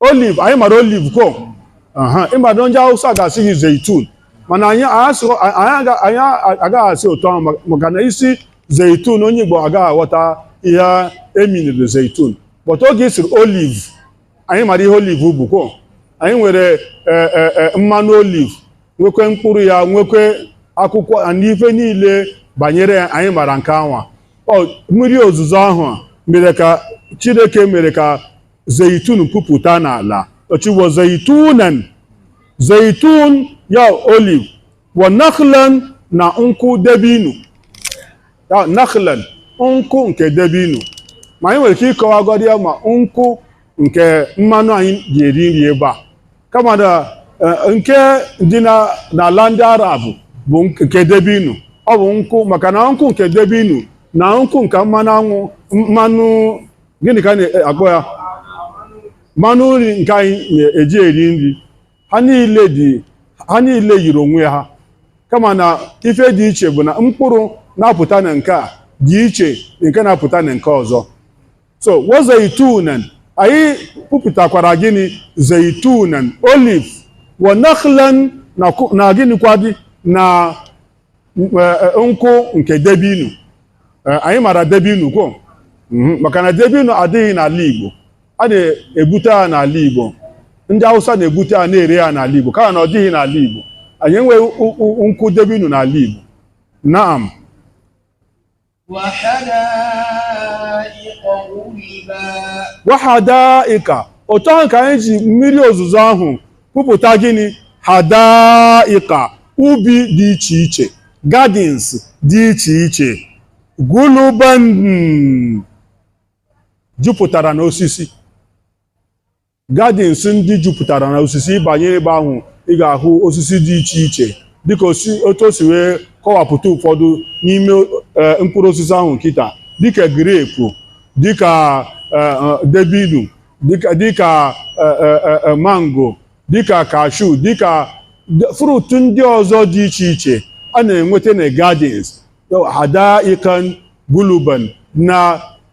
oliv anyị mara oliv ko ị mara ndị awụsa ga-asị gị zeitun mana anyị agaghị asị otu ahụ maka na ị sị zeitun onye igbo agaghị aghọta ihe e miniri zeitun but oge ị sịrị oliv anyị mara ihe oliv bụ ko anyị nwere e, e, e, mmanụ oliv nwekwe mkpụrụ ya nwekwe akwụkwọ na ife niile banyere ya anyị mara nke anwa mmiri ozuzo ahụ mere ka chineke mere ka zeitun pupụta n'ala ọ sị wa zeitunan zeitun ya oliv wa nakhlan na nkwụ debinu ya nakhlan nkwụ nke debinu ma anyị nwere ike ịkọwagodi ya ma nkwụ nke mmanụ anyị ji eri nri ebe a kama na eh, nke dị na- n'ala ndị arab bụ nk- nke debinu ọ bụ nkwụ maka na nkwụ nke debinu na nkwụ nke mmanụ anwa mmanụ gịnị ka a na-akpọ ya mmanụ nri nke anyị na-eji eri nri ha niile dị ha niile yiri onwe ha kama na ife dị iche bụ na mkpụrụ na-apụta na nke a dị iche na nke na-apụta na nke ọzọ so wa zaitunan anyị pupụtakwara gịnị zaitunan olive wa nakhlan na ku- na gịnịkwa dị na nkwụ nke debinu anyị mara debinu ko mhm, maka na debinu adịghị n'ala Igbo a na-ebute ya n'ala Igbo ndị Hausa na-ebute ya na-ere ya n'ala Igbo kama na ọ dịghị n'ala Igbo anyị enweghị nkwụ debinu n'ala Igbo naam wahadaika otu ahụ ka anyị ji mmiri ozuzo ahụ pupụta gịnị hadaika ubi dị iche iche gardens dị iche iche guluban jupụtara n'osisi Gardens ndị jupụtara na osisi ị banye ebe ahụ ị ga-ahụ osisi dị iche iche dịka otu o si wee kọwapụta ụfọdụ n'ime e, mkpụrụ osisi ahụ kịta dịka grape dịka e, e, debinu dịka mango dịka cashew dịka fruit ndị ọzọ dị iche iche a na-enweta na gardens hadaikan guluban na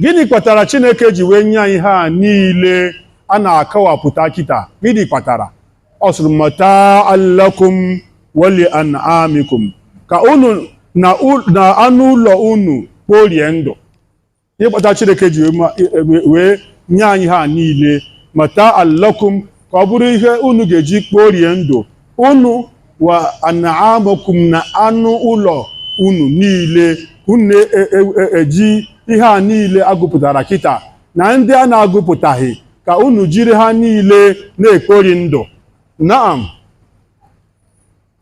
gịnị kpatara chineke ji wee nye anyị ihe a niile a na-akọwapụta kịta gịnị kpatara ọ sịrị mata'an lakum wa li an'amikum ka unu na anụ ụlọ unu kporie ndụ ihe kpata chineke ji wee ma- wee- wee nye anyị ha niile mata'an lakum ka ọ bụrụ ihe unu ga-eji kporie ndụ unu wa an'amakum na anụ ụlọ unu niile unu eji ihe a niile a gụpụtara kịta na ndị a na-agụpụtaghị ka unu jiri ha niile na-ekpori ndụ naam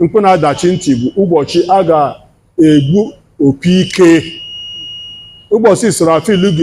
Mkpu na-adachi ntị bụ ụbọchị a ga-egbu opi ike. Ụbọchị Israfil ga